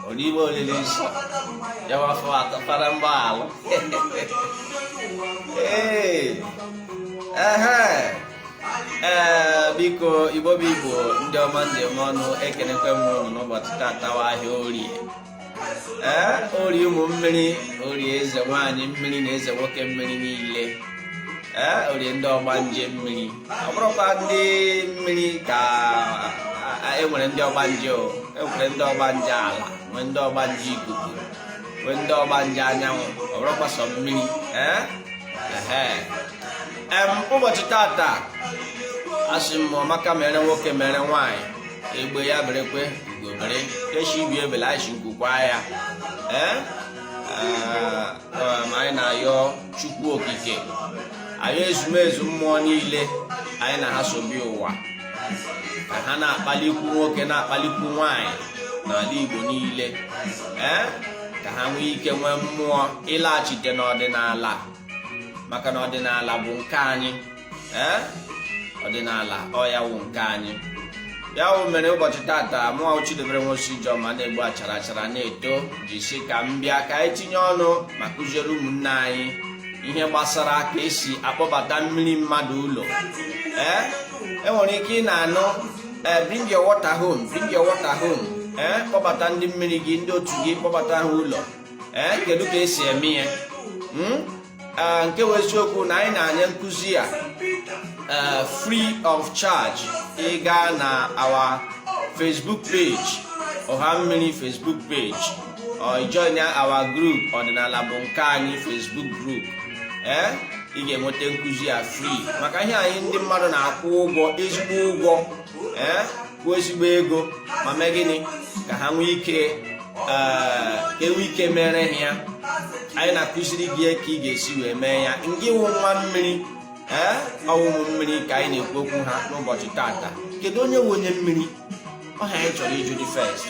Olive olili nsọ ya wafọ atọ fara mgbaalụ ee ee biko igbo bụ igbo ndị ọma ndị ọma ọnụ ekenekwe m ụnụ n'ụbọchị tata wụ ahịa orie ee orie ụmụ mmiri orie eze nwaanyị mmiri na eze nwoke mmiri niile ee orie ndị ọgbanje mmiri ọ bụrọkwa ndị mmiri ka enwere ndị ọgbanje enwere ndị ọgbanje ala nwee ndị ọgbanje ikuku nwee ndị ọgbanje anyanwụ ọ bụrọkwa sọ mmiri ee ụbọchị tata asị m ọ maka mere nwoke mere nwaanyị egbe ya berekwe ugo bere ke shị ibe ebele anyị shị nku kwaa ya ee um, anyị na-ayọ chukwu okike ayọ ezumezu mmụọ niile anyị na ha so bịa ụwa ka ha na-akpalikwu nwoke na-akpalikwu nwanyị n'ala Igbo niile ee eh? ka ha nwee ike nwee mmụọ ịlaghachite n'ọdịnala maka na ọdịnala bụ nke anyị ee ọdịnala ọ ya wụ nke anyị ya wụ mere ụbọchị tata mụwa Chidebere Nwosu Ijeọma na-egbu achara achara na-eto ji sị ka m bịa ka anyị tinye ọnụ ma kụziere ụmụnne anyị ihe gbasara ka esi akpọbata mmiri mmadụ ụlọ ee enwere ike ị na-anụ eh, bring your water home bring your water home ee eh, kpọbata ndị mmiri gị ndị otu gị kpọbata ha ụlọ ee eh, kedu ka esi eme ya hmm? eh, nke wụ eziokwu na anyị na-anye nkụzi a eh, free of charge ị gaa na our Facebook page ọha mmiri Facebook page or join our group ọdịnala bụ nke anyị Facebook group ee eh? ị ga-enweta nkụzi ya free maka ihe anyị ndị mmadụ na-akwụ ụgwọ ezigbo ụgwọ ee kwụọ ezigbo ego ma mee gịnị ka ha nwee ike eh, ka enwee ike mere ha ya anyị na-akụziri gị ka ị ga-esi wee mee ya ngị wụ nwa mmiri ee eh, ọ wụ ụmụ mmiri ka anyị na-ekwu okwu ha n'ụbọchị tata kedu onye wụ onye mmiri ọ ihe anyị chọrọ ịjụ dị first